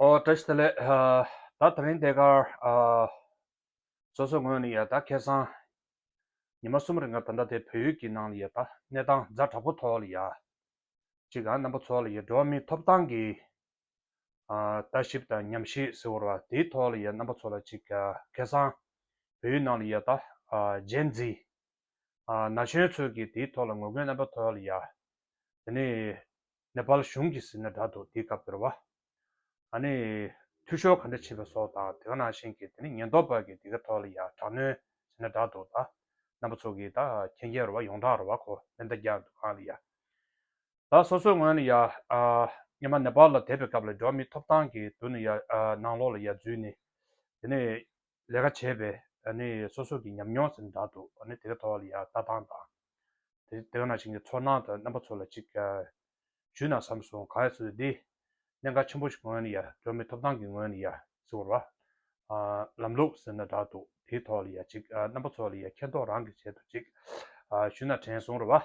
ཨོ་བཀྲ་ཤིས་བདེ་ལེགས། ད་ད་རིང་འདས་ཁར། སོ་སོའི་ངོས་ནས་ཡ་ད་ཁེ་སང། ཉི་མ་གསུམ་རིང་ག་ད་ད་དེ་བོད་ཡུལ་གྱི་ནང་ལ་ཡ་ད་གནས་སྟངས་རྫ་དྲག་པོ་ཐོག་ལ་ཡ། གཅིག་གམ་རྣམ་པ་ཚོ་ལ་ཡ་འགྲོ་བ་མིའི་ཐོབ་ཐང་གི། ལྟ་ཞིབ་དང་ཉམས་ཞིབ་ཟེར་བར་བ་དེའི་ཐོག་ལ་ཡ་རྣམ་པ་ཚོ་ལ་གཅིག་ག་ཁེ་སང། བོད་ཡུལ་ནང་ལ་ཡ་ད། རྗེན་ཛི། ན་གཞོན་ཚོས་གི་དེའི་ཐོག་ལ་ངོ་རྒོལ་རྣམ་པ་ཐོག་ལ་ཡ། དེ་ནས། ནེ་པཱལ་གཞུང་གིས་ཟིན་ན་འདྲ་འདུག་འདི་སྐབས་འདིར་བ་ཨ་ནི་འཐུས་ཤོར་ག་འདྲ་བྱས་པ་སོགས་དང་དེ་ག་ནང་བཞིན་གྱི་དེ་ནི་ཉེན་རྟོག་པ་གིས་འདི་ག་ཐོག་ལ་ཡང་དྲག་གནོན་བྱས་ན་འདྲ་འདུག་ད་རྣམ་པ་ཚོ་གིས་ད་ཁྱེད་རྒྱལ་རོ་བ་ཡོངས་གྲགས་རོ་བ་ཁོ་མེ་མདའ་རྒྱག་འདུག་གང་ལ་ཡ། ད་སོ་སོའི་ངོས་ནས་ཡ་ཨ་ཉི་མ་ནེ་པཱལ་ལ་དེད་པའི་སྐབས་ལ་འགྲོ་མི་ཐོབ་ཐང་གི་དུས་ནས་ཡ་ཨ་ནང་ལོགས་ལ་ཡ་འཛུལ་ནས་དེ་ནས་ལས་ཀ་བྱས་པས་སོ་སོ་གི་ཉམས་མྱོང་ཟིན་འདྲ་འདུག་དེ་ག་ཐོག་ལ་ཡང་ལྟ་སྟངས་དང། དེ་ག་ནང་བཞིན་གྱི་ཚོར་སྣང་དང་རྣམ་པ་ཚོ་ལ་ཅིག་ཞུས་ན་བསམ་སོང་ག་ཚོད་ཡོད་དེ། གནད་འགག་ཆེན་པོ་ཞིག་ངོས་ནས་ཡང་སྒྲོན་མེ་ཐོབ་སྟངས་ཀྱི་ངོས་ནས་ཡང་ཟེར་བར། ལམ་ལུགས་ཟིན་འདྲ་འདུག་དེ་ག་ཐོག་ལ་ཡང་ཅིག་རྣམ་པ་ཚོ་ལ་ཡང་མཁྱེན་རྟོགས་རང་གིས་བྱས་འདུག་ཅིག་ཞུས་ན་དྲན་སོང་ར་བ།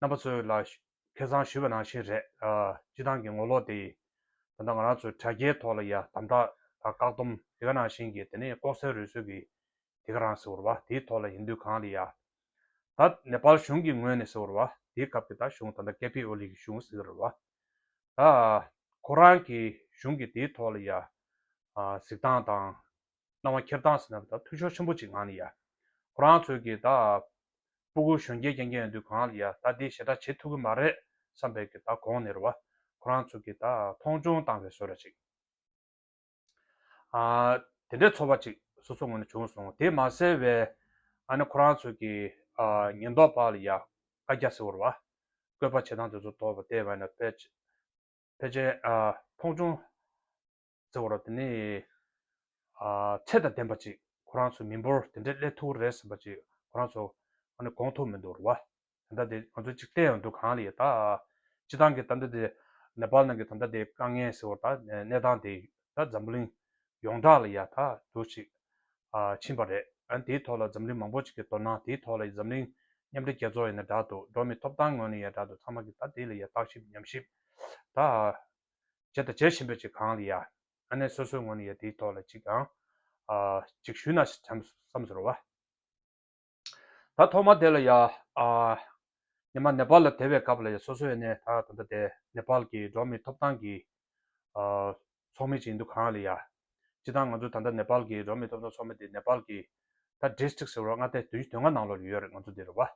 རྣམ་པ་ཚོའི་ལ་ཁེ་བཟང་ཞུས་པ་ནང་བཞིན་རེད། སྤྱི་བཏང་གི་ངོ་ལོག་དེ་ཡིས་ད་ལྟ་ང་རང་ཚོའི་དྲ་རྒྱའི་ཐོག་ལ་ཡ་དམ་དག་དང་བཀག་སྡོམ་དེ་ག་ནང་བཞིན་གྱི་དེ་ནས་ལྐོག་ཟའི་རུལ་སུལ་གྱི་དེ་ག་རང་ཟེར་བ་དེའི་ཐོག་ལ་ཡིན་དུས་གང་ལ་ཡ་ད་ནེ་པལ་གཞུང་གི་ངོས་ནས་ཟེར་བ་དེའི་སྐབས་ཀྱི་ད་གཞུང་ད་ལྟ་ཀེ་པི་ཨོ་ལི་གི་གཞུང་ཟེར་བ་ད་ཁོ་རང་གི་གཞུང་གི་དེའི་ཐོག་ལ་ཡ་གཟིགས་སྟངས་དང། སྣང་བ་འཁྱེར་སྟངས་ཟིན་ན་བདག་མཐུ་ཕྱོགས་ཆེན་པོ་ཅིག་ངང་ལ་ཡ། ཁོ་རང་ཚོད་ཀྱིས་བདག་ཨབ། སྤུ་གུ་གཞོན་སྐྱེས་རྐྱེན་རྐྱེན་ཡོད་དུས་གང་ལ་ཡ་བདག་འདིས་ཞེ་དྲག་བྱེད་ཐུབ་ཀྱི་མ་རེད་བསམ་པས་ཀྱི་བདག་གོང་ནས་ར་བ། ཁོ་རང་ཚོད་ཀྱིས་བདག་མཐོང་ཆུང་བཏང་བའི་བཟོད་ར་ཅིག། དེ་འདྲའི་ཚོར་བ་ཅིག་སོ་སོ་ངོས་ནས་བྱུང་སོང་དེ་མ་གསལ་བས། ཨ་ནི་ཁོ་རང་ཚོད་ཀྱིས་ཉེན་རྟོག་པ་ལ་ཡ་བཀའ་རྒྱ་ཟེར་བར་བ། བསྐོས་པ་བྱེད་སྟངས་དེ་ཚོ་དོར་བ་དེ་བས་ན་ཕལ་ཕལ་ཆེར་མཐོང་ཆུང། བརྩེ་བ་རོ། དེ་ནས་ཚད་དང་ལྡན་པ་ཅིག་ཁོ་རང་ཚོ་མི་འབོར་དེ་འདྲའི་སླད་ཐུག་གི་རེད་ཟེར་བ་ཅིག་ཁོ་རང་ཚོ་གོང་མཐོ་མི་འདུག་རེད་བ། ད་ལྟ་དེ་ང་ཚོ་ཅིག་བལྟས་ཡོང་དུས་གང་ལ་ཡོད་ད། སྤྱི་བཏང་གི་ད་ལྟ་དེ་ནེ་པལ་ནང་གི་ད་ལྟ་དེ་དཀའ་ངལ་ཟེར་བ་ད་གནས་སྟངས་དེ་ད་འཛམ་གླིང་ཡོངས་གྲགས་ལ་ཡ་ད་དུ་ཅིག་ཕྱིན་པ་རེད། དེའི་ཐོག་ལ་འཛམ་གླིང་མང་པོ་ཅིག་གིས་དོ་སྣང་དེའི་ཐོག་ལ་འཛམ་གླིང་མཉམ་འབྲེལ་རྒྱལ་ཚོགས་ཡ་ན་དྲག་འདུག་འགྲོ་མི་ཐོབ་ཐང་ངོས་ནས་ཡ་དྲག་འདུག་ཚང་མ་གིས་ད་དེ་ལ་ཡ་བརྟག་ཞིབ་ཉམས་ཞིབ་ད། བྱེད་དང་བྱེད་བཞིན་པའི་ཅིག་གང་ལ་ཡ། ཨ་ནེ་སོ་སོའི་ངོ་ནས་ཡ་དེའི་ཐོག་ལ་ཅིག་ཨང། ཅིག་ཞུས་ན་བསམ་ཟོར་བ། ད་ཐོག་མ་དེ་ལ་ཡ། ཉི་མ་ནེ་པཱལ་ལ་དེ་བའི་སྐབས་ལ་ཡ་སོ་སོའི་ནས་ད་ད་ད་དེ་ནེ་པཱལ་གྱི་འགྲོ་མིའི་ཐོབ་ཐང་གི། ཚོགས་མི་ཅིག་འདུག་གང་ལ་ཡ། སྤྱི་དང་ང་ཚོ་ད་ད་ནེ་པཱལ་གྱི་འགྲོ་མིའི་ཐོབ་ཐང་ཚོགས་མི་དེ་ནེ་པཱལ་གྱི། ད district ཟེར་བ་ང་དེ་དུས་ལྔ་ནང་ལོར་ཡོད་རེད་ང་ཚོ་དེ་རེད་བ།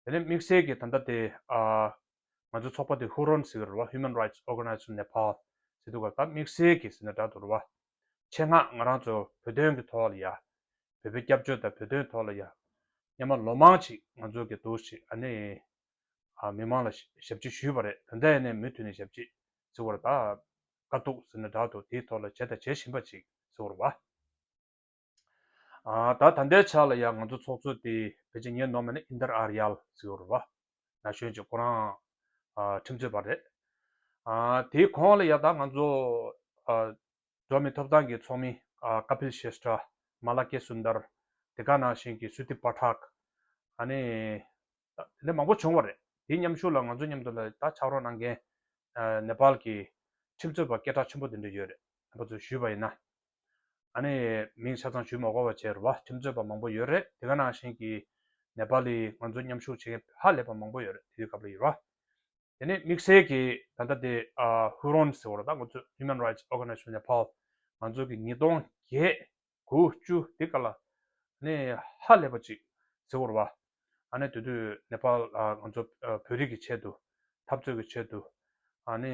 དེ་ནས་དམིགས་བསལ་གྱི་ད་ལྟ་དེ་ང་ཚོའི་ཚོགས་པ་དེ་ཧུ་རོན་ཟེར་གི་རེད་བ Human Rights Organization Nepal ཟེར་འདུག་ག་ད་དམིགས་བསལ་གྱི་ཟེར་ན་འདྲ་འདུག་རེད་བ། ཆེད་མངགས་ང་རང་ཚོ་བོད་དོན་གྱི་ཐོག་ལ་ཡ། བོད་པའི་སྐྱབས་བཅོལ་དང་བོད་དོན་ཐོག་ལ་ཡ། མཉམ་མ་ལོ་མང་ཅིག་ང་ཚོ་གི་འདུག་ཅིག་ཨ་ནི། མི་མང་ལ་ཞབས་ཕྱི་ཞུས་བ་རེད་ད་ལྟ་ཡ་ནས་མུ་མཐུད་ནས་ཞབས་ཕྱི་ཟེར་བ་རེད་ད། དཀའ་སྡུག་ཟེར་ན་འདྲ་འདུག་དེའི་ཐོག་ལ་བྱས་དང་བྱེད་བཞིན་པ་ཅིག་ཟེར་བ་རེད་བ། ཨ་ད་ད་འདའི་ཆ་ལ་ཡང་ང་ཚོ་ཚོགས་གཙོ་དེ་བོད་ཀྱི་ངས་ནོར་མེད་ན་ཨིན་དར་ཨར་ཡལ་ཟེར་བ་རུ་བ་ན་གཞོན་གྱི་ཁོ་རང་ཁྲིམས་རྩོད་པ་རེད། ཨ་དེའི་གོང་ལ་ཡང་ད་ང་ཚོ་འགྲོ་མི་ཐོབ་ཐང་གི་ཚོགས་མི་ཀ་པིལ་ཤེས་ཏྲ། མ་ལ་ཀེ་སུན་དར། དེ་ག་ནང་བཞིན་གྱི་སུ་ཏི་པ་ཏྲག། ཨ་ནི་དེ་འདྲ་མང་པོ་བྱུང་བ་རེད་དེའི་མཉམ་ཞུགས་ལ་ང་ཚོ་མཉམ་དུ་ལ་ད་ཕྱག་རོགས་གནང་མཁན་ནེ་པལ་གྱི་ཁྲིམས་རྩོད་པ་སྐད་གྲགས་ཆེན་པོ་དེ་འདྲ་ཡོད་རེད་ཨ་པ་ཚོས་ཞུས་པ་ཡིན་ན་ཨ་ནེ་ཡའི་མིང་ཆ་ཚང་ཞུས་མ་གོ་བ་བྱས་རུ་བ་ཁྱིམ་རྩོད་པ་མང་པོ་ཡོད་རེད་དེ་ག་ནང་བཞིན་གྱི་ནེ་པ་ལི་ང་ཚོ་མཉམ་ཞུགས་བྱེད་མཁན་ཧ་ལས་པ་མང་པོ་ཡོད་རེད་དེ་དུས་སྐབས་ལ་ཡོད་ར་དེ་ནས་དམིགས་བསལ་གྱི་ད་ལྟ་དེ་བྷུ་རོན་ཟེར་བ་ར་ད་ང་ཚོས Human Rights Organization of Nepal ང་ཚོ་གི་ཉིས་སྟོང་བརྒྱད་དགུ་བཅུ་དེ་ག་ལ་ནི་ཧ་ལས་པ་ཅིག་ཟེར་བ་རུ་བ་ཨ་ནེ་དེ་དུས་ནེ་པ་ལ་ང་ཚོ་བོད་རིགས་ཀྱི་ཆེད་དུ་འཐབ་རྩོད་ཀྱི་ཆེད་དུ་ཨ་ནེ་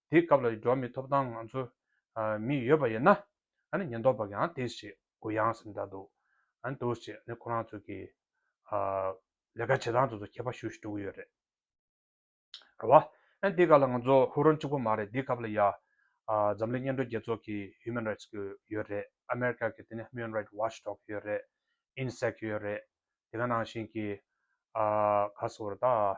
དེའི་སྐབས་ལ་འགྲོ་བ་མི་ཐོབ་ཐང་ང་ཚོ་མི་ཡོད་པ་ཡིན་ན་ཉེན་རྟོག་པ་གང་དེ་ཞིག་གུ་ཡངས་སུ་འདར་འདུག་འདུག་ཅེས་ཁོ་རང་ཚོ་གི་ལས་ཀ་བྱེད་སྟངས་དེ་ཚོ་ཁྱད་པར་ཞུ་ཞུ་འགྲོ་གི་ཡོད་རེད། རེད་བ། དེའི་སྐབས་ལ་ང་ཚོ་ཧུར་ཧུར་གཅིག་པོ་མ་རེད་དེའི་སྐབས་ལ་ཡང་འཛམ་གླིང་སྙན་སྒྲོན་རྒྱལ་ཚོགས་ཀྱི Human Rights གི་ཡོད་རེད་ཨ་མེ་རི་ཀ་གི་དེ་ནས Human Rights Watch Dog ཡོད་རེད། INSEC ཡོད་རེད་དེ་ག་ནང་བཞིན་གྱི་ག་སོ་རེད་ད།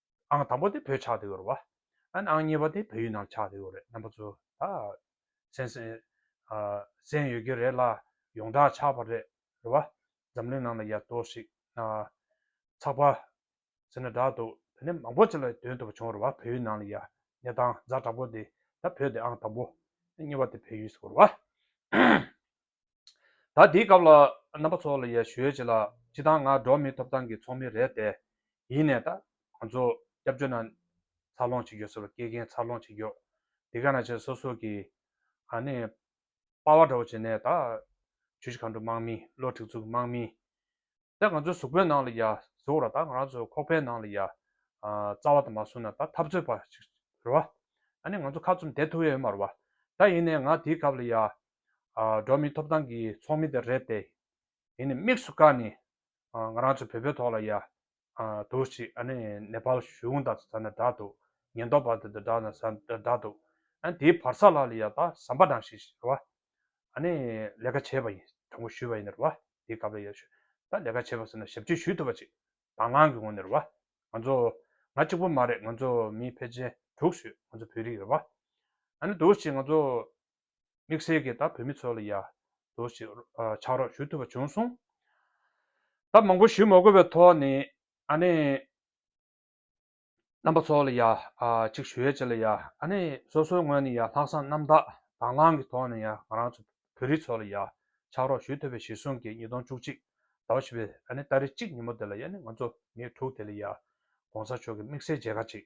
ཨང་དང་པོ་དེ་བོད་ཆགས་འདི་ཡོད་རེད་བ། ཨན་ཨང་གཉིས་པ་དེ་བོད་ཡུལ་ནང་ཆགས་འདི་ཡོད་རེད་རྣམ་པ་ཚོ་ད། སེམས་སེམས། སེམས་ཡོད་ཀྱི་རེད་ལ་ཡོངས་གྲགས་ཆགས་པ་རེད་རེད་བ། འཛམ་གླིང་ནང་ལ་ཡ་ལྟོས་ཤིག་ན། ཚགས་པར། ཟེར་ན་དྲག་འདུག་དེ་ནས་མང་པོ་ཅིག་ལ་དོན་ཐུབ་པ་བྱུང་རེད་བ་བོད་ཡུལ་ནང་ལ་ཡ། གནས་སྟངས་རྫ་དྲག་པོ་འདི་ད་བོད་འདི་ཨང་དང་པོ། གཉིས་པ་དེ་བོད་ཡུལ་ཟེར་རེད་བ། ད་འདིའི་སྐབས་ལ་རྣམ་པ་ཚོ་ལ་ཡར་ཞུས་བྱས་ལ་སྤྱི་དང་ང་འགྲོ་མིའི་ཐོབ་ཐང་གི་ཚོགས་མི་རེད་དེ། ཡིན་ནས་ད་ང་ཚོ་སྐྱབས་བཅོལ་ན་འཚར་ལོངས་བྱེད་རྒྱུ་ཟེར་བ་སྐད་མཁན་འཚར་ལོངས་བྱེད་རྒྱུ་དེ་ག་ན་བྱས་སོ་སོ་གི་ཧ་ནས་དཔའ་བ་འདྲ་བོ་བྱས་ནས་ད་ཆུ་བཞི་མཁའ་འགྲོ་དམག་མི་བློ་གྲིགས་ཚུགས་དམག་མི་དེ་ང་ཚོའི་གཟུགས་པོའི་ནང་ལ་ཡར་ཟུག་ར་ད་ང་རང་ཚོའི་ཁོག་པའི་ནང་ལ་ཡར་རྩ་བ་ད་མ་བཟུང་ན་ད་འཐབ་རྩོད་པ་ཞིག་ཟེར་བ་ཨ་ནི་ང་ཚོ་ཁ་ཙུམ་དེད་ཐུབ་ཡས་ཡོད་མ་རེད་བ་ད་ཡིན་ནས་ང་འདིའི་སྐབས་ལ་ཡར་འགྲོ་མིའི་ཐོབ་ཐང་གི་ཚོགས་མི་དེ་རེད་དེ། དེ་ནི་དམིགས་སུ་བཀར་ནས་ང་རང་ཚོའི་བོད་པའི་ཐོག་ལ་ཡ། དུག་ཅིག་ཨ་ནི་ནེ་པ་ལ་གཞུང་དང་ས་ནི་འདྲ་འདུག་ཉེན་རྟོག་པ་དེ་དང་འདྲ་ན་ས་འདྲ་འདྲ་འདུག་ཨ་དེའི་བར་ས་ལ་ལ་ཡ་ད་ཟམ་པ་འདྲ་ཞིག་རེད་བ། ཨ་ནི་ལས་ཀ་བྱས་པ་ཡིན་དྲང་པོ་ཞུས་པ་ཡིན་རེད་བ་དེའི་སྐབས་ལ་ཡ་ཞུས་ད་ལས་ཀ་བྱས་པ་ཟེར་ན་ཞབས་ཕྱི་ཞུས་ཐུབ་པ་ཅིག་དང་བླང་གི་ངོ་ནས་རེད་བ། ང་ཚོ་ང་གཅིག་པོ་མ་རེད་ང་ཚོ་མི་ཕལ་ཆེན་དྲུག་ཞུས་ང་ཚོ་བོད་རིགས་རེད་བ། ཨ་ནི་དུག་ཅིག་ང་ཚོ་དམིགས་བསལ་གྱིས་ད་བོད་མི་ཚོ་ལ་ཡར་འདུག་ཅིག་ཆགས་རོགས་ཞུ་ཐུབ་པ་བྱུང་སོང། ད་མང་པོ་ཞུ་མ་དགོས་པའི་ཐོག་ནས་ཨ་ནེ་རྣམ་པ་ཚོ་ལ་ཡར་ཅིག་ཞུ་ཡས་ཅིག་ལ་ཡར་ཨ་ནེ་སོ་སོའི་ངོས་ནས་ཡར་ལྷག་བསམ་རྣམ་དག་དྭང་བླང་གི་ཐོག་ནས་ཡར་ང་རང་ཚོ་བོད་རིགས་ཚོ་ལ་ཡར་ཆགས་རོགས་ཞུ་ཐུབ་པའི་གཞིར་བཟུང་གིས་ཉིས་སྟོང་བཅུ་གཅིག་ཟླ་བ་བཞི་པའི་ཨ་ནེ་ཏཱ་རེ་གཅིག་ཉིན་མོ་དེ་ལ་ཡར་ནི་ང་ཚོ་ཉེར་དྲུག་དེ་ལ་ཡར ྋགོང་ས་མཆོག་གི་དམིགས་བསལ་མཇལ་ཁ་ཅིག་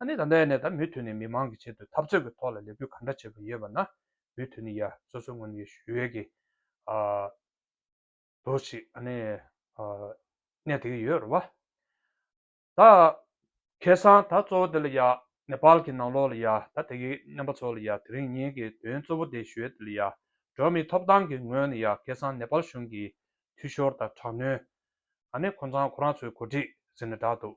ཨ་ནི་ད་ལྟ་ཡ་ནས་ད་མུས་ཐུན་ནས་མི་མང་གི་ཆེད་དུ་འཐབ་རྩོད་ཀྱི་ཐོག་ལ་ལས་འགུལ་ག་འདྲ་བྱེད་པ་ཡོད་པ་ན་མུས་ཐུན་ནི་ཡ་སོ་སོའི་ངོས་ནས་ཡོད་ཞུ་ཡོད་གི། འདུག་ཅི་ཨ་ནི་གནས་དེ་གི་ཡོད་རེད་བ། ད་ཁེ་སང་ད་གཙོ་བོ་དེ་ལ་ཡ་ནེ་པཱལ་གི་ནང་ལོགས་ལ་ཡ་ད་དེ་གི་སྨན་པ་ཚོ་ལ་ཡ་དེ་རིང་ཉིན་གི་དོན་གཙོ་བོ་དེ་ཞུ་ཡོད་དེ་ལ་ཡ་འགྲོ་མིའི་ཐོབ་ཐང་གི་ངོས་ནས་ཡ་ཁེ་སང་ནེ་པཱལ་གཞུང་གི་འཐུས་ཤོར་དང་དྲག་གནོན། ཨ་ནི་ཁོ་ཚང་ཁོ་རང་ཚོའི་གོ་སྒྲིག་ཟེར་ནས་བསྒྲགས་འདུག་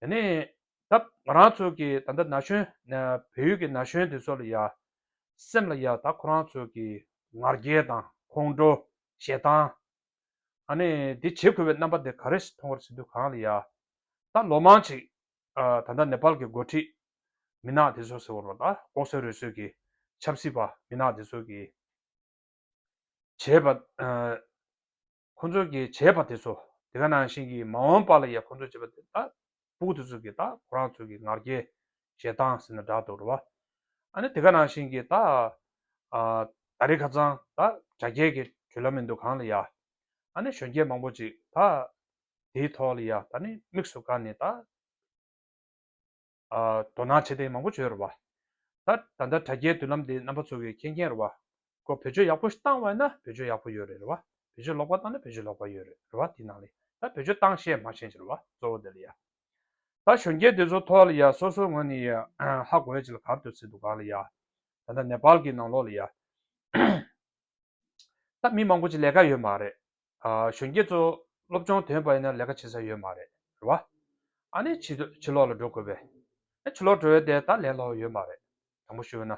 དེ་ནས་ད་ང་རང་ཚོ་གི་ད་ལྟ་ན་གཞོན་བལ་ཡུལ་གྱི་ན་གཞོན་དེ་ཚོ་ལ་ཡང་སེམས་ལ་ཡང་ད་ཁོ་རང་ཚོ་གི་ང་རྒྱལ་དང་ཁོང་ཁྲོ་ཞེ་སྡང་ཨ་ནི་དེ་བྱེད་དགོས་པའི་རྣམ་པ་དེ་ག་རེ་ཞིག་མཐོང་བར་བྱེད་དུས་གང་ལ་ཡང་ད་ལོ་མང་ཅིག་ད་ལྟ་ནེ་པཱལ་གྱི་འགོ་ཁྲིད་མི་ནག་དེ་ཚོ་ཟེར་བ་ལ་ད་ལྐོག་ཟ་རུལ་སུལ་གྱི་ཆབ་སྲིད་པ་མི་ནག་དེ་ཚོ་གི་བྱས་པ། ཁོ་ཚོ་གི་བྱས་པ་དེ་ཚོ་དེ་ག་ནང་བཞིན་གི་མ་འོངས་པ་ལ་ཡ་ཁོ་ཚོ་བྱས་པ་དེ་ད་སྤུག་དེ་ཚོ་གི་ད་ཁོ་རང་ཚོ་གི་ངར་སྐྱེ་ཞེ་སྡང་ཟེར་ན་འདྲ་འདུག་ར་བ་ཨ་ནི་དེ་ག་ནང་བཞིན་གི་ད་ད་རི་ཁ་ཚང་ད་བྱ་རྒྱལ་གི་གྲོས་ལ་མི་འདུག་གང་ལ་ཡ་ཨ་ནི་གཞོན་སྐྱེས་མང་པོ་ཅིག་ད་དེའི་ཐོག་ལ་ཡ་ད་ནི་དམིགས་སུ་བཀར་ནས་ད། དོ་སྣང་བྱེད་ཐེངས་མང་པོ་བྱོས་ར་བ། ད་ད་ལྟ་དྲ་རྒྱའི་མདུན་ལམ་དེ་རྣམ་པ་ཚོ་གི་མཁྱེན་མཁྱེན་ར་བ། ཁོ་བེད་སྤྱོད་ཡག་པོ་བཏང་བས་ན་བེད་སྤྱོད་ཡག་པོ་ཡོད་རེད་ར་བ། བེད་སྤྱོད་ལོག་པ་བཏང་ན་བེད་སྤྱོད་ལོག་པ་ཡོད་རེད་ར་བ་དེ་ནང་ལས་ད་བེད་སྤྱོད་བཏང་ཤེས་མ་ཤེས་ཅི་ར་བ་གཙོ་བོ་དེ་ལ་ཡ། ད་གཞོན་སྐྱེས་དེ་ཚོ་ཐོག་ལ་ཡ་སོ་སོའི་ངོས་ནས་ཡ་ཧ་གོ་ཡ་ཅི་ལ་གར་འདོད་ཚེ་འདུག་ག་ལ་ཡ། ད་ད་ནེ་པཱལ་གི་ནང་ལོག་ལ་ཡ། ད་མི་མང་པོ་ཅིག་ལས་ཀ་ཡོད་མ་རེད། གཞོན་སྐྱེས་ཚོ་སློབ་སྦྱོང་དོན་དཔར་ཡིན་ན་ལས་ཀ་བྱེད་ས་ཡོད་མ་རེད་བ། ཨ་ནི་ཕྱི་ཕྱི་ལོག་ལ་འགྲོ་དགོས་པས། ཨ་ཕྱི་ལོག་འགྲོ་ཡོད་དེ་ད་ལན་ལོག་ཡོད་མ་རེད། དྲང་པོ་ཞུས་ན།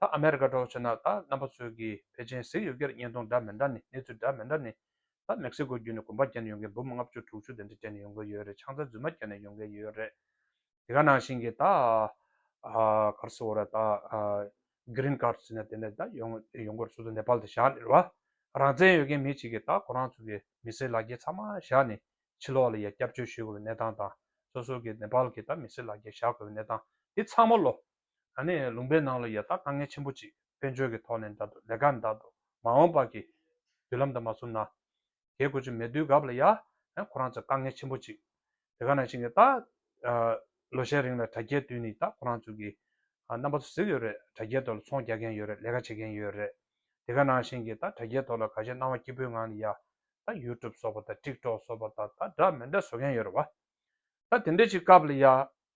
ད་ཨ་མེ་རི་ཀ་འགྲོ་ཆོད་ན་ད་རྣམ་པ་ཚོས་ཀྱིས་ཕལ་ཆེན་གཟིགས་ཡོད་ཁེར་བརྙན་ཐུང་འདྲ་མི་འདྲ་ནི་གནས་ཚུལ་འདྲ་མི་འདྲ་ནི། ད་མེག་སི་ཀོ་བརྒྱུད་ནས་གོམ་པ་བརྒྱབ་ནས་ཡོང་མཁན་འབུམ་ལྔ་བཅུ་དྲུག་ཅུ་དེ་འདྲ་བསྐྱལ་ནས་ཡོང་གི་ཡོད་རེད་ཆང་རྩ་རྫུན་མ་བསྐྱལ་ནས་ཡོང་གི་ཡོད་རེད། དེ་ག་ནང་བཞིན་གྱི་ད་གར་སོ་ར་ད Green Card ཟེར་ན་དེ་ནས་ད་ཡོང་སྒོར་ཚུར་དུ་ནེ་པལ་དུ་བཞག་ནས་ར་རང་བཙན་ཡོད་མཁན་མི་གཅིག་གིས་ད་ཁོ་རང་ཚོ་གི་མི་སེར་ལག་འཁྱེར་ཚང་མ་བཞག་ནས་ཕྱི་ལོག་ལ་ཡ་སྐྱབས་བཅོལ་ཞུས་དགོས་པའི་གནས་སྟངས་དང་སོ་སོ་གི་ནེ་པལ་གྱི་ད་མི་སེར་ལག་འཁྱེར་བཞག་དགོས་པའི་གནས་སྟངས་དེ་ཚང་མ་ལོ་ད་ནི་ལུང་པའི་ནང་ལ་ཡ་ཐག་དཀའ་ངལ་ཆེན་པོ་ཅིག་བེད་སྤྱོད་ཀྱི་ཐོག་ནས་འདའ་འདུག་ལས་ཀ་འདའ་འདུག་མ་འོངས་པ་གི་དུས་ལམ་དང་མ་བསུབ་ན། རྒས་དགོས་ཀྱི་མེད་དུས་སྐབས་ལ་ཡ། ཁོ་རང་ཚོ་དཀའ་ངལ་ཆེན་པོ་ཅིག་དེ་ག་ནང་ཞིག་ནས་ད། ལོ་ཤས་རིང་ལ་དྲ་རྒྱའི་དུས་ནི་ད་ཁོ་རང་ཚོ་གི། རྣམ་པ་ཚོ་གཟིགས་ཡོད་རེད་དྲ་རྒྱའི་ཐོག་ལ་ཚོང་རྒྱག་མཁན་ཡོད་རེད་ལས་ཀ་བྱེད་མཁན་ཡོད་རེད། དེ་ག་ནང་ཞིག་གི་ད་དྲ་རྒྱའི་ཐོག་ལ་ག་ཤེད་སྣང་བ་སྐྱིད་པོའི་ངང་ནས་ཡ། ད YouTube སོགས་པ་དང TikTok སོགས་པ་དང་ད་འདྲ་མི་འདྲ་བཟོ་མཁན་ཡོད་རེད་བ། ད་དེ་འདྲ་ཞིག་སྐབས་ལ་ཡ།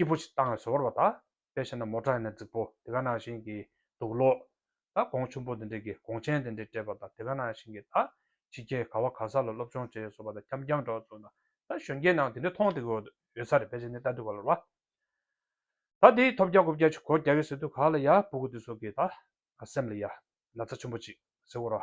སྐྱིད་པོ་ཞིག་བཏང་བས་ཟོར་བ་དག་དཔེ་བྱས་ན་མོ་བྲག་ཡིན་ན་རྫིག་པོ་དེ་ག་ནང་བཞིན་གྱི་འདུག་ལོ། ད་གོང་ཆུང་པོ་དེ་འདྲས་ཀྱིས་གོང་ཆེན་དེ་འདྲས་སྤྲད་པ་དང་དེ་ག་ནང་བཞིན་གྱི་ད་ཕྱི་རྒྱལ་ག་བ་ག་ས་ལ་སློབ་སྦྱོང་བྱས་ཟོར་བ་དང་འཁྱམ་འཁྱམ་འདྲ་བ་ཚོ་ད་གཞོན་སྐྱེས་ནང་དེ་འདྲས་མཐོང་ཐེག་ཡོད་ས་རེད་དཔེ་བྱས་ནས་ལྟ་དུས་ག་ལ་རུང་བ། ད་དེའི་ཐོབ་རྒྱ་གོ་བརྒྱ་ཆུ་གོ་བརྒྱ་གི་ཟེར་དུས་ག་ལ་ཡ་སྤུ་གུ་དེ་ཚོ་གི་ད་ང་སེམས་ལ་ཡ་ན་ཚ་ཆེན་པོ་ཅིག་ཟེར་བོ་ར།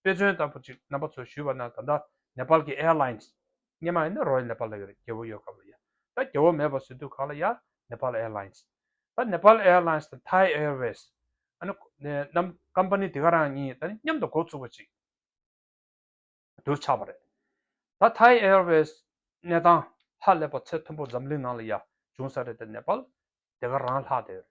དཔེ་མཚོན་ལྟ་བུ་ཅིག་རྣམ་པ་ཚོས་ཞུས་པ་ན་ད་ལྟ་ནེ་པཱལ་གྱི་ཨེར་ལཱིན་སི། སྙེ་མ་ཡིན་ན་རོའི་ནེ་པཱལ་ལ་ཡོད་རེད་རྒྱལ་བོ་ཡོད་སྐབས་ལ་ཡ། ད་རྒྱལ་བོ་མེད་པར་སི་དུས་ཁག་ལ་ཡ། ནེ་པཱལ་ཨེར་ལཱིན་སི། ད་ནེ་པཱལ་ཨེར་ལཱིན་སི་དང་ཐའི་ཨེར་ཝེ་སི། ཨ་ནི། རྣམས་ཀམ་པ་ནི་དེ་ག་རང་གཉིས་ད་ནི་མཉམ་དུ་འགོ་ཚུགས་པ་ཅིག་ཏུ་ཆགས་པ་རེད། ད་ཐའི་ཨེར་ཝེ་སི། གནས་དང། ལྷག་ལས་པ་ཚད་མཐོན་པོ་འཛམ་གླིང་ནང་ལ་ཡ། བྱུང་ས་རེད་ད་ནེ་པཱལ། དེ་ག་རང་ལྷག་དེ་ཡོད་རེད།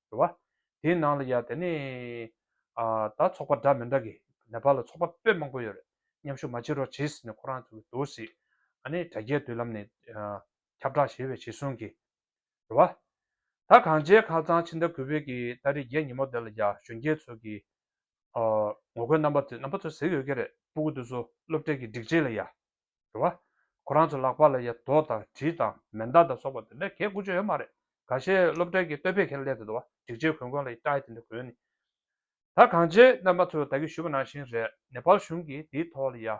རེད་བ། དེའི་ནང་ལ་ཡང་དེ་ནས་ད་ཚོགས་པ་འདྲ་མི་འདྲ་གི་ནེ་པ་ལ་ཚོགས་པ་དཔེ་མང་པོ་ཡོད་རེད་མཉམ་ཞུགས་མ་བྱེད་རོགས་བྱེད་ཟེར་ནས་ཁོ་རང་ཚོའི་དོར་སྲིད་ཨ་ནེ་དྲ་རྒྱའི་དུས་ལམ་ནས་ཁྱབ་བསྒྲགས་བྱས་བའི་བྱེད་སྲུང་གི་རེད་བ། ད་གངས་ཅན་ཁ་ཚང་ཕྱི་ཟླ་དགུ་བོད་ཀྱི་ད་རེས་བརྒྱད་ཉིན་མོ་དེ་ལ་ཡང་གཞོན་སྐྱེས་ཚོ་གི་ངོ་རྒོལ་རྣམ་པ་ཚོ་ཟེར་ཡོད་ཀྱི་རེད་སྤུ་གུ་དུ་སོ་སློབ་གྲྭས་ཀྱི་སྒྲིག་ཆས་ལ་ཡང་རེད་བ། ཁོ་རང་ཚོའི་ལག་པ་ལ་ཡ་ཐོག་དང་གྲི་དང་མེ་མདའ་དང་སོགས་པ་དེ་འདྲ་གས་དགོས་ཆོད་ཡོད་མ་རེད། ག་ཤེད་སློབ་གྲྭའི་གི་སྟོད་ཕེ་ཁེན་ལས་དེ་དོ་བ་འགྲིག་ཆེ་གོན་གོན་ལ་ཡི་སྐྲ་ཡི་དེ་འདྲ་གོན་ནི། ད་གང་ཆེ་རྣམ་པ་ཚོས་ད་གི་ཞུ་བ་ནང་བཞིན་རེད་ནེ་པལ་གཞུང་གིས་དེའི་ཐོག་ལ་ཡ།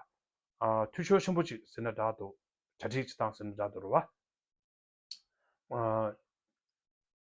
འཐུས་ཤོར་ཆེན་པོ་ཅིག་ཟེར་ན་འདྲ་འདུག་གྲ་སྒྲིག་ཅིག་དང་ཟེར་ན་འདྲ་འདུག་རེད་བ།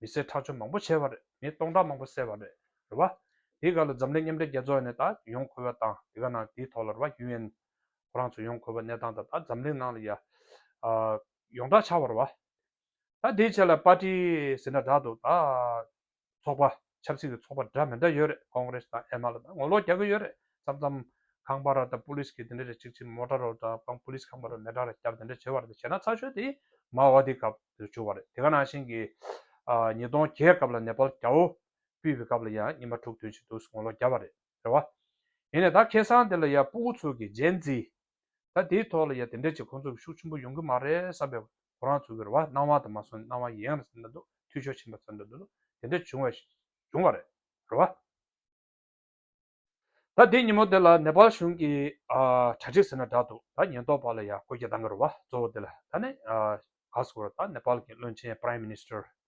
མི་སེར་ཁྲག་སྦྱོར་མང་པོ་བྱས་པ་རེད་མི་སྟོང་ཕྲག་མང་པོ་བསད་པ་རེད་རེད་བ། དེའི་སྒང་ལ་འཛམ་གླིང་མཉམ་འབྲེལ་རྒྱལ་ཚོགས་ནས་ད་ཡོང་ཁོ་བོ་དང་དེ་ག་ནང་དེའི་ཐོག་ལ་རེད་བ་ཡུ་ཨེན་ཁོ་རང་ཚོ་ཡོང་ཁོ་བོ་གནས་སྟངས་དང་ད་འཛམ་གླིང་ནང་ལ་ཡ་ཡོང་གྲགས་ཆགས་པ་རེད་བ། ད་དེའི་ཆེད་ལ་པར་ཏི་ཟེར་ན་དྲག་འདུག་ད་ཚོགས་པ། ཆབ་སྲིད་ཀྱི་ཚོགས་པ་འདྲ་མི་འདྲ་ཡོད་རེད་ཀོང་རེས་དང་ཨེ་མ་ལ་དང་ངོ་ལོག་རྒྱག་གི་ཡོད་རེད་མཚམས་མཚམས་ཁང་པ་ར་དང་པུ་ལིས་ཀྱི་དེ་འདྲ་རེད་ཅིག་ཅིག་མོ་དྲ་རོགས་དྲ་དང་པུ་ལིས་ཁང་པ་ར་མེ་དྲ་ར་རྒྱབ་དེ་འདྲ་བྱེད་པ་རེད་བྱས་ན་ཚགས་ཤོད་དེ་མའོ་ཨ་དེའི་སྐབས་དེར་བྱུང་བ་རེད་དེ་ག་ནང་བཞིན་གྱི་ཉིས་སྟོང་བརྒྱད་སྐབས་ལ་ནེ་པལ་རྒྱ་བོ་སྤུད་པའི་སྐབས་ལ་ཡང་ཉི་མ་དྲུག་དོན་ཞིག་འདུག་ངོ་ལོག་རྒྱབ་པ་རེད་རེད་བ། ཡིན་ནས་ད་ཁེ་སང་དེ་ལ་ཡ་སྤུ་གུ་ཚུལ་གྱི་རྗེས་འཛིན་ད་དེའི་ཐོག་ལ་ཡ་དེ་འདྲས་ཀྱི་ཁོང་ཚོ་ཤུགས་ཆེན་པོ་ཡོང་གི་མ་རེད་བསམ་པའི་གོ་རང་ཚུགས་ཀྱི་རེད་བ་སྣང་བ་དང་མ་སོན་སྣང་བ་ཡན་རེད་བསམ་ད་འདུག་འཐུས་ཤོར་ཕྱིན་པ་བསམ་ད་འདུག་དེ་འདྲས་བྱུང་བས་བྱུང་བ་རེད་བ། ད་དེ་ཉིན་མོ་དེ་ལ་ནེ་པལ་གཞུང་གི་དྲ་ཚིགས་ཟེར་ན་འདྲ་འདུག་ད་ཉེན་རྟོག་པ་ལ་ཡ་ཀོ་རྒྱ་བཏང་གི་རེད་བ་གཙོ་བོ་དེ་ལ་ད་ནི་ག་སོང་བ་རེད་ད་ནེ་པལ་གྱི་བློན་ཆེན Prime Minister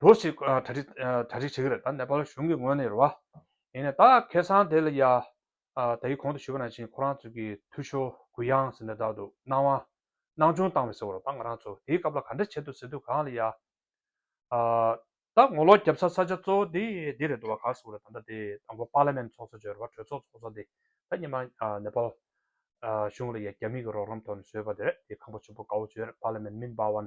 འགྲོ་ཞིག་གྲ་སྒྲིག་གྲ་སྒྲིག་བྱེད་ཀྱི་རེད་ད་ནེ་པ་ལ་གཞུང་གི་ངོས་ནས་རེད་བ། ཡིན་ནས་ད་ཁེ་སང་དེ་ལ་ཡ། ད་ཡིག་གོང་དུ་ཞུས་པ་ནང་བཞིན་ཁོ་རང་ཚོས་ཀྱི་འཐུས་ཤོར་གུ་དབྱངས་ཟེར་འདྲ་དག་འདུག་སྣང་བ། སྣང་ཆུང་བཏང་བས་ཟེར་བ་རེད་ད་ང་རང་ཚོ་དེའི་སྐབས་ལ་ག་འདྲ་བྱེད་འདུག་ཟེར་དུས་གང་ལ་ཡ། ད་ངོ་ལོག་རྒྱབ་ས་ས་ཆ་གཙོ་བོ་དེ་འདི་རེད་འདུག་བ་ག་ཟེར་བ་རེད་ད་ད་དེ་དང་པོ་པཱ་ལེ་མེན་ཚོགས་གཙོ་བརྗོད་རེད་བ་གྲོས་ཚོགས་ཚོགས་གཙོ་དེ་ད་ཉི་མ་ནེ་པ་ལ། གཞུང་ལ་ཡ་རྒྱ་མིའི་གི་རོགས་རམ་ཐོག་ནས་བཟོས་པ་དེ་རེད་དེ་ཁང་པ་ཆུ་བོ་གའུ་བརྗོད་རེད་པཱ་ལེ་མེན་མིན་པཱ་ཝན་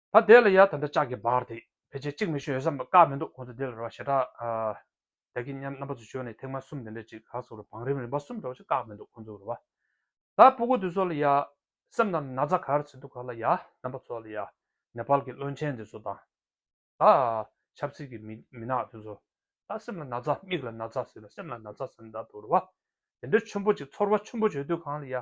ད་དེ་ལ་ཡ་ད་འདྲ་ལྕགས་ཀྱི་འབག་དེ་ཕལ་ཆེར་གཅིག་མི་ཤོད་ཡོད་ས་བཀག་མི་འདུག་ཁོང་ཚོ་དེ་ལ་རོ་བྱེ་བྲག་ཨ། བདག་གིས་མཉམ་རྣམ་པ་ཚོ་བྱོས་ནས་ཐེངས་མ་གསུམ་དེ་འདྲ་ཅིག་ལགས་སོ་རུ་བང་རིམ་རིམ་པ་གསུམ་འདྲ་བ་ཞིག་བཀག་མི་འདུག་ཁོང་ཚོ་རུ་བ། ད་སྤུ་གུ་དེ་ཚོ་ལ་ཡ། སེམས་ནང་ན་ཚ་གར་ཚེ་འདུག་ག་ལ་ཡ་རྣམ་པ་ཚོ་ལ་ཡ། ནེ་པཱལ་གྱི་བློན་ཆེན་དེ་ཚོ་དང། ད། ཆབ་སྲིད་ཀྱི་མི་མི་ནག་དེ་ཚོ། ད་སེམས་ལ་ན་ཚ་མིག་ལ་ན་ཚ་ཟིལ་ལ་སེམས་ལ་ན་ཚ་ཟེར་ནས་ད་དུ་རུ་བ། དེ་འདྲ་ཆུན་པོ་ཅིག་ཚོར་བ་ཆུན་པོ་བྱོས་དུས་གང་ལ་ཡ།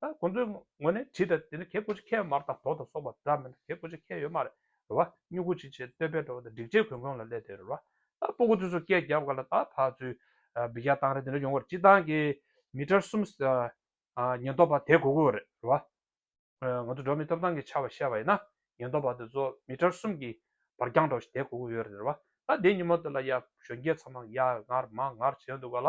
ད་ཁོང་ཚོའི་ངོ་ནས་དྲིས་དང་དེ་ནི་གད་སྐུ་ཅིག་ཁྱེར་མར་དང་གྲོགས་དང་སོགས་པ་འདྲ་མིན་གད་སྐུ་ཅིག་ཁྱེར་ཡོད་མ་རེད་རེད་བ་སྨྱུ་གུ་ཅིག་བྱས་བསྟོད་པའི་བྲོ་བ་དང་སྒྲིག་ཆས་གོན་གོན་ལ་སླེབས་དེ་རེད་རེད་བ་ད་སྤོ་གོ་ཚོད་ཚོད་སྐད་རྒྱབ་ག་ལ་ད་ཕ་ཚོའི་སྦི་ག་བཏང་རེད་དེ་འདྲ་ཡོང་བར་སྤྱི་བཏང་གི་མི་གྲར་གསུམ་ཉེན་རྟོག་པ་དེད་གོ་དགོས་རེད་རེད་བ། ང་ཚོ་འགྲོ་མི་ཐོབ་ཐང་གི་ཆ་བ་བཤད་པ་ཡིན་ན་ཉེན་རྟོག་པ་དེ་ཚོ་མི་གྲར་གསུམ་གྱི་བར་རྒྱང་བསྒྲགས་ཤིག་དེད་གོ་དགོས་ཡོད་རེད་རེད་བ་ད་དེ་ཉིན་མོ་དེ་ལ་ཡ་གཞོན་སྐྱེས་ཚང་མ་ཡར་ངར་མར་ངར་བྱས་འདུག་ག་ལ་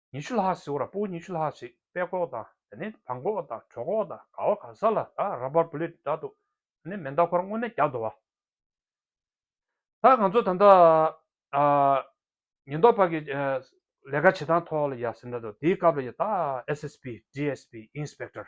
ཉི་ཤུ་ལྷག་ཟེར་བ་ལ་པོ་ཉི་ཤུ་ལྷག་ཞིག་པད་ཀོག་དང་དེ་ནས་བྲང་ཀོག་དང་གྲོ་ཀོག་དང་ག་བ་ག་ས་ལ་དག་ར་བར་བུ་ལེ་འདྲ་འདུག་དེ་ནས་མེ་མདའ་འཁོར་དངོས་གནས་རྒྱག་འདོད་བ། ད་ང་ཚོ་ད་ལྟ་ཉེན་རྟོག་པ་གི་ལས་ཀ་བྱེད་སྟངས་ཐོག་ལ་ཡ་ཟེར་འདྲ་འདུག་དེའི་སྐབས་ལ་ཡ་ད SSP, DSP, Inspector།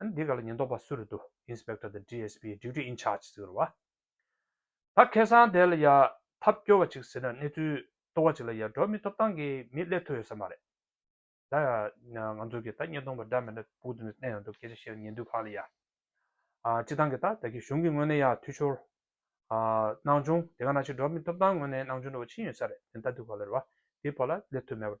ཨ་འདི་ག་ལ་ཉེན་རྟོག་པ་སུ་རེད་འདུག Inspector the DSP Duty in Charge ཟེར་བ། ད་ཁེ་སང་དེ་ལ་ཡ་ཐབས་སྐྱོ་བ་ཅིག་ཟེར་ན་གནས་ཚུལ་ལྟོ་བ་ཅིག་ལ་ཡ་འགྲོ་མི་ཐོབ་ཐང་གི་མི་སླེབས་ཐུབ་ཡོད་ས་མ་རེད། ད་ཡ་ང་ཚོ་གི་ད་ཉེན་རྟོག་པ་འདྲ་མི་འདྲ་བུག་ཏུ་ནས་བསྟན་ཡོད་འདུག་སྐད་ཆ་བཤད་ཉེན་འདུག་ཁང་ལ་ཡ་སྤྱི་བཏང་གི་ད་ད་གི་གཞུང་གི་ངོས་ནས་ཡ་འཐུས་ཤོར་སྣང་ཆུང་དེ་ག་ན་ཆེ་འགྲོ་མི་ཐོབ་ཐང་ངོས་ནས་སྣང་ཆུང་འགྲོ་བ་ཕྱིན་ཡོད་ས་རེད་དེ་ད་འདུག་ག་ལེར་བ་དེ་བ་ལ་སླེབས་ཐུབ་མེད་པ་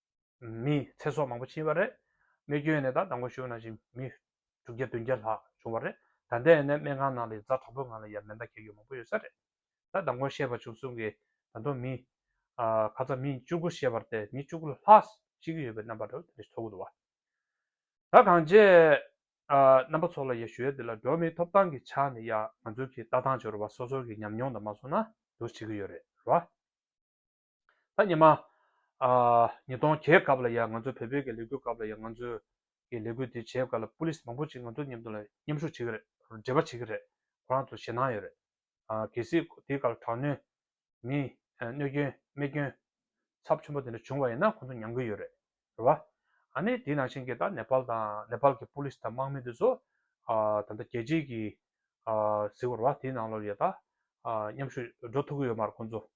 མི་ཚེ་སྲོག་མང་པོ་ཕྱིན་པ་རེད། རྨས་སྐྱོན་ནད་རྟགས་དང་པོ་ཤོར་ན་བཞིན་མི་དྲུག་བརྒྱ་བདུན་བརྒྱ་ལྷག་བྱུང་བ་རེད། ད་ལྟའི་ནད་སྨན་ཁང་ནང་ལས་བཟའ་གྲོགས་པོའི་ངང་ལ་ཡར་མེ་མདའ་འཁེལ་ཡུལ་མང་པོ་ཡོད་ས་རེད། ད་ལྟ་མགོན་ཤེས་པ་བྱུང་གསུང་གིས་ད་དུང་མི། ཁ་ཚ་མི་བཅུ་དགུ་ཤེས་པར་ཏེ་མི་བཅུ་དགུ་ལྷག་ཤི་གི་ཡོད་པའི་རྣམ་པ་རེད་དེ་ཚོ་གུ་དོག་ད་གང་བྱས། རྣམ་པ་ཚོ་ལ་ཡ་ཞུའི་དེ་ལ་འགྲོ་མིའི་ཐོབ་ཐང་གི་ཆ་ནས་ཡ་ང་ཚོ་གི་ལྟ་སྟངས་ཆེ་རུ་བ་སོ་སོ་གི་ཉམས་མྱོང་དང་མ་སོ་ན་དུ་བྱེད་གི་ཡོད་རེད་ར། ད་ཉི་མ་ཉིས་སྟོང་གྱའི་སྐབས་ལ་ཡང་ང་ཚོ་བལ་བོད་ཀྱི་ལས་འགུལ་སྐབས་ལ་ཡང་ང་ཚོས་ཀྱི་ལས་འགུལ་དེ་བྱེད་སྐབས་ལ Police མང་པོ་ཅིག་ང་ཚོ་མཉམ་དུ་ལ་མཉམ་ཞུགས་བྱེད་ཀྱི་རེད་འབྲེལ་བ་བྱེད་ཀྱི་རེད་ཁོ་རང་ཚོ་ཞེད་སྣང་ཡོད་རེད། གལ་སྲིད་དེའི་སྐབས་ལ་དྲག་གནོན། མི་གནོད་སྐྱོན་རྨས་སྐྱོན། ཚབས་ཆེན་པོ་དེ་འདྲ་བྱུང་བ་ཡིན་ན་ཁོ་ཚོ་མྱང་གི་ཡོད་རེད་རེད་བ། ཨ་ནི་དེའི་ནང་བཞིན་གྱི་ད Nepal དང Nepal གྱི Police དང་དམག་མི་དེ་ཚོ་ད་ལྟ་རྒྱལ་སྤྱིའི་གྱི་གཟིགས་པ་རེད་བ་དེའི་ནང་ལ་ཡང་ད་མཉམ་ཞུགས་འགྲོ་ཐུབ་ཀྱི་ཡོད་མ་རེད་ཁོ་ཚོ།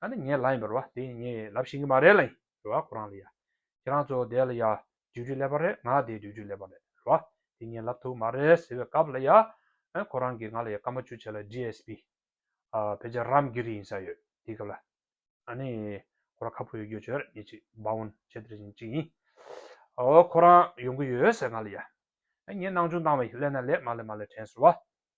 ད་ནི་ངའི་ལག་ཡིན་པ་རེད་བ་དེ་ངས་ལབ་བཞིན་གྱི་མ་རེད་ལ་ཡིན་རེད་བ་ཁོ་རང་ལ་ཡ། ཁྱེད་རང་ཚོ་དེ་ལ་ཡ། རྗེས་འཇུག་ལེགས་པ་རེད་ང་དེ་རྗེས་འཇུག་ལེགས་པ་རེད་རེད་བ། དེ་ངས་ལབ་ཐུབ་མ་རེད་ཟེར་བའི་སྐབས་ལ་ཡ། ཁོ་རང་གིས་ང་ལ་ཡ་སྐར་མ་བཅུ་ཕྱེད་ལ GSP། བོད་ཆས་རམ་གི་རིགས་ཡིན་ས་ཡོད་དེའི་སྐབས་ལ། ད་ནི་ཁོ་རང་ཁ་ཕོ་ཡོད་རྒྱུ་བྱས་རེད་ཉིན་གཅིག Bound བྱས་དེར་བཞིན་གཅིག་ཡིན། ཁོ་རང་ཡོང་གི་ཡོད་ཟེར་ང་ལ་ཡ། ངས་སྣང་ཆུང་བཏང་བས་ལས་ན་ལས་མ་ལས་མ་ལས་དྲན་ཟེར་བ།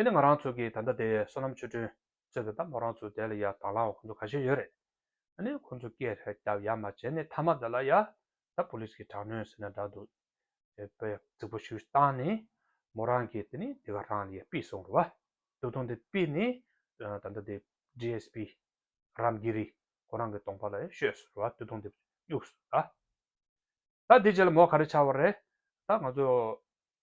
དེ་ནི་ང་རང་ཚོ་གིས་ད་ལྟ་དེ་བསོད་ནམས་ཆོས་སྒྲོན་གཙོས་པའི་ད་མོ་རང་ཚོའི་དེ་ལ་ཡ་དྭགས་ལའང་ཁོ་ཚོ་ག་ཤེད་ཡོད་རེད་ད་ནི་ཁོ་ཚོ་སྐད་རེ་རྒྱབ་ཡ་མ་བྱེད་ནས་ཐ་མ་དེ་ལ་ཡ་ད་པོ་ལིས་ཀྱི་དྲག་གནོན་ཟེར་ན་འདྲ་འདུག་དེ་པེ་རྫིག་པོ་ཞུས་སྟངས་ནི་མོ་རང་གིས་དེ་ནི་དེ་ག་རང་ལ་ཡ་པིས་སོང་རུ་བ་འདུག་ཐོང་དེ་པིས་ནི་ད་ལྟ་དེ GSP། རམ་གི་རི་ཁོ་རང་གི་གདོང་པ་ལ་ཡ་ཤོས་སུ་རུ་བ་འདུག་ཐོང་དེ་བསྙུགས་སོང་ར། ད་དེ་རྗེས་ལ་མོ་ག་རེ་བྱ་བ་རེད་ད་ང་ཚོ་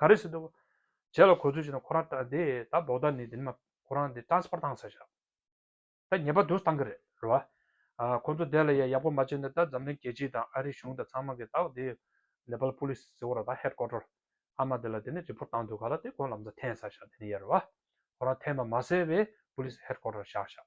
ག་རེ་བྱེད་འདོད། བྱས་ལ་གོ་ཚོད་བྱས་ན་ཁོ་རང་ད་དེ་ད་ལྡོག་ད་ནི་དེ་ནི་མ་ཁོ་རང་དེ་ཏྲང་སི་པར་བཏང་ས་ཞག་ད་ཉེས་པ་དུ་བཏང་གི་རེད་རེད་བ། ཁོ་ཚོ་དེ་ལ་ཡ་ཡག་པོ་མ་བྱས་ན་ད་འཛམ་གླིང་རྒྱལ་སྤྱི་དང་ཨ་རིའི་གཞུང་དང་ཚང་མ་གི་ད་དེ་ནེ་པལ་པོ་ལིས་ཟེར་བོ་ར་ད་ཧེད་ཀོ་ཀྲོར་ཨ་མ་དེ་ལ་དེ་ནི་རི་པོར་བཏང་འདོད་ག་ལ་དེ་ཁོ་ལམ་ཚ་འཐེན་ས་ཞག་དེ་ནི་ཡ་རེད་བ། ཁོ་རང་འཐེན་པ་མ་ཟད་པའི་པོ་ལིས་ཧེད་ཀོ་ཀྲོར་བཞག་ཞག།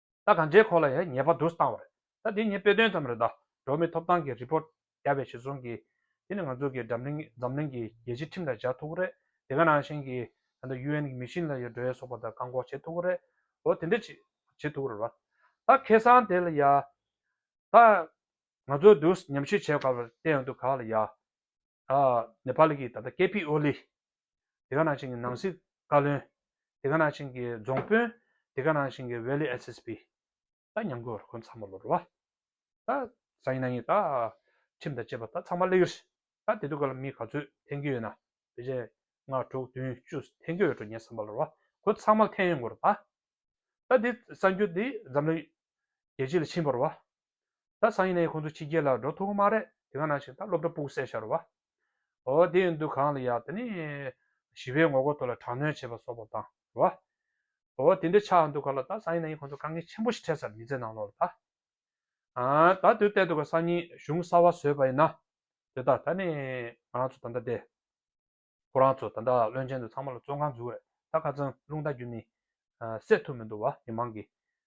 ད་ག་འདྲའི་གོ་ལ་ཡ་ཉེས་པ་བསྡུར་སྟངས་རེད་ད་དེ་ཉིན་དཔེ་སྟོན་ཙམ་རེད་ད་འགྲོ་མི་ཐོབ་ཐང་གི report རྒྱ་བའི་བྱེད་སོང་གིས་དེ་ནི་ང་ཚོ་གི་འཛམ་གླིང་འཛམ་གླིང་གི་རྒྱལ་སྤྱི་ཁྲིམས་ལ་བཞག་ཐུག་གི་རེད་དེ་ག་ནང་བཞིན་གི་ད་ལྟ UN གི་མི་ཤིང་ལ་ཡོད་འགྲོའི་སོག་པ་ད་བཀག་འགོག་བྱེད་ཐུག་གི་རེད་འོ་དེ་འདྲ་བྱེད་བྱེད་ཐུག་གི་རེད་བ་ད་ཁེ་སང་དེ་ལ་ཡ་ད་ང་ཚོ་བསྡུར་ཉམས་ཞིབ་བྱེད་དགའ་བར་བལྟས་འདུག་ག་ལ་ཡ་ད་ནེ་པ་ལི་གིས་ད་ལྟ་ཀེ་པི་ཨོ་ལི་དེ་ག་ནང་བཞིན་གྱི་ནང་སྲིད་བཀའ་བློན། དེ་ག་ནང་བཞིན་གྱི་རྫོང་དཔོན། དེ་ག་ནང་བཞིན་གྱི་ཝེ་ལི SSP། ད་ཉམས་དགོས་བར་ཁོ་ཚང་མ་ལོ་རུ་བ། ད་གཟའ་ཉི་ན་གཉིས་ད་ཁྲིམས་དང་བཅས་པ་ད་ཚང་མ་གླེགས་རི། ད་དེ་དུས་ག་ལ་མི་ག་ཚོད་འཐེན་གྱི་ཡོད་ན་བོད་ཆས་ལྔ་དྲུག་བདུན་བཅུ་འཐེན་གྱི་ཡོད་འགྲོ་ངས་བསམ་པ་ལོ་རུ་བ་ཁོ་ཚང་མ་འཐེན་ཡོད་འགོ་རུ་བ། ད་དེ་གསར་འགྱུར་དེ་འཛམ་གླིང་རྒྱལ་སྤྱི་ལ་ཕྱིན་པ་རུ་བ། ད་གཟའ་ཉི་ན་གཉིས་ཁོ་ཚོ་ཕྱི་རྒྱལ་ལ་འགྲོ་ཐུབ་གི་མ་རེད་དེ་ག་ནང་བཞིན་ད་སློབ་གྲྭ་སྤུག་གསལ་བྱ་རུ་བ། ཨོ་དེ་ཡང་འདུ་གང་ལ་ཡག་དེ་ནི། ཞི་བའི་ངོ་རྒོལ་དོར་ལ་དྲག་གནོན་བྱེད་པ་སོགས་པ་དང་རོ། ཨོ་དེ་འདྲའི་ཆགས་འདུག་ག་ལ་ད་ཟ་ཡིན་ན་ཡིན་ཁོང་ཚོ་དཀའ་ངལ་ཆེན་པོ་ཞིག་འཕྲད་ས་རེད་མི་ཚེ་ནང་ལོག་ལ་ད། ཨང་ད་དུས་གཏད་འདུག་ག་སང་ཉིན་གཞུང་གསར་བ་བཟོས་པ་ཡིན་ན། དེ་དག་ད་ནི་ང་རང་ཚོ་ད་ལྟ་བསྡད། ཁོ་རང་ཚོ་ད་ལྟ་བློན་ཆེན་དུ་ཚང་མ་ལ་བཙོན་ཁང་འཛུགས་རེད་ད་ཁ་ཙང་རླུང་རྟ་རྒྱུ་ནི། སད་ཐུབ་མི་འདུག་བ་མི་མང་གིས་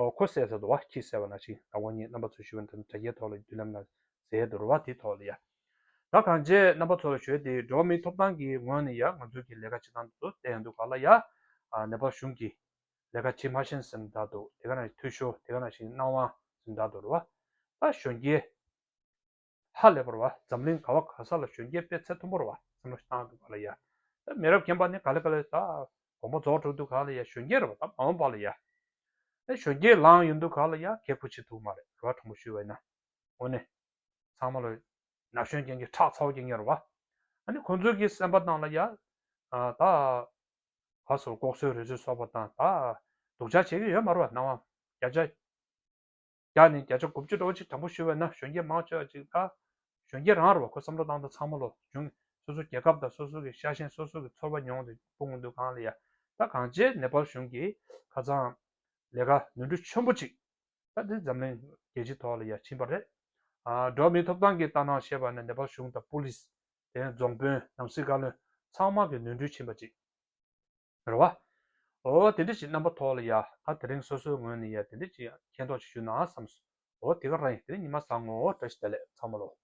ཁོ་བསད་ས་དུ་བ་ཁྱི་བསད་བ་ན་ཞིག་ད་ཁོ་གཉིས་རྣམ་པ་ཚོ་ཞུ་བ་འདི་འདྲ་རྒྱའི་ཐོག་ལ་རྒྱུ་ལམ་ན་ཟས་དུ་རུ་བ་དེ་ཐོག་ལ་ཡ་ད་གང་བྱས་རྣམ་པ་ཚོ་ལ་ཞོལ་དེ་འགྲོ་བ་མིའི་ཐོབ་ཐང་གི་ངོས་ནས་ཡ་ང་ཚོ་གི་ལས་ཀ་བྱེད་སྟངས་འདི་ཚོ་བསད་ཡ་འདུག་ག་ལ་ཡ་ནེ་པ་གཞུང་གི་ལས་ཀ་བྱེད་མ་ཤེས་སེམས་གདའ་འདུག་དེ་ག་ན་འཐུས་ཤོར་དེ་ག་ན་ཞིག་སྣང་བ་སེམས་གདའ་འདུག་རུ་བ་ད་གཞོན་སྐྱེས། ཧ་ལས་པར་བ་འཛམ་གླིང་ག་བ་ག་ས་ལ་གཞོན་སྐྱེས་སྤེ་ཚེ་མཐོན་པོར་བ་སེམས་ལ་བཏང་འདུག་ག་ལ་ཡ། ད་མི་རབས་རྒན་པ་ནི་ག་ལེ་ག་ལེ་ད། དགོངས་པ་རྫོགས་འགྲོ་འདུག་ག་ལ་ཡ་གཞོན་སྐྱེས་ར་བ་ད་མ་འོང་པ་ལ་ཡ། ད་གཞོན་སྐྱེས་ལངས་ཡོད་འདུག་ག་ལ་ཡ་གེ་ཁུ་བྱེད་ཐུབ་མ་རེད་ར་བ་དྲང་པོ་ཞུས་བ་ཡིན་ན། འོ་ནི། ཚང་མ་ལ། ན་གཞོན་སྐྱེས་ཀྱི་ཁྲག་ཚ་བོ་སྐྱེས་ངེས་ར་བ། ད་ནི་ཁོང་ཚོས་ཀྱི་སེམས་པ་བཏང་ལ་ཡ། ད། བ་སོར་ལྐོག་སོའི་རུས་ཚོད་གསོག་པ་དང་ད། སྡུག་ཅག་བྱེད་ཀྱི་ཡོད་མ་ར་བ་སྣང་བ། རྒྱ་ཅག། བརྒྱ་ནས་བརྒྱ་ཆ་དགུ་བཅུ་རོགས་གཅིག་དྲང་པོ་ཞུས་པ་ན་གཞོན་སྐྱེས་མང་ཆེ་བ་ཅིག་ལ་གཞོན་སྐྱེས་རང་རེ་བ་ཁོ་བསམ་བློ་བཏང་ད་ཚང་མ་ལོ་ཆུང་གི་སོ་སོའི་རྒྱལ་ཁབ་དང་སོ་སོ་གི་ཤ་ཞེན་སོ་སོ་གི་ཚོར་བ་མྱོང་དུ་སྤུངས་འདུག་གང་ལ་ཡ་ད་གང་བྱས་ནེ་པལ་གཞུང་གི་ཁ་ཚང་ལས་ཀ་ནུས་འབྲུ་ཆོན་པོ་ཅིག་ད་དེ་འཛམ་གླིང་རྒྱལ་སྤྱི་ཐོག་ལ་ཡ་ཕྱིན་པ་རེད་ཨ་འགྲོ་མི་ཐོབ་ཐང་གི་ལྟ་སྣང་བཤད་པ་ནི་ནེ་པལ་གཞུང་དང་པུ་ལིས་དེ་རྫོང་དཔོན་ནམ་སྲིད་བཀའ་བློན་ཚང་མ་གི་ནུས་འབྲུ་ཕྱིན་པ་ཅིག། རེད་བ། འོ་དེ་འདྲ་ཞིག་རྣམ་པ་ཐོག་ལ་ཡ་ད་དེ་རིང་སོ་སོའི་ངོས་ནས་ཡ་དེ་འདྲ་ཞིག་མཁྱེན་རྟོགས་ཅིག་ཞུ་ན་བསམས། འོ་དེ་ག་རང་ཡིན་དེ་ནི་ཉི་མ་བཟང་ངོ་འོ་དྲ་ཞིག་དེ་ལས་ཚང་མ་ལོ།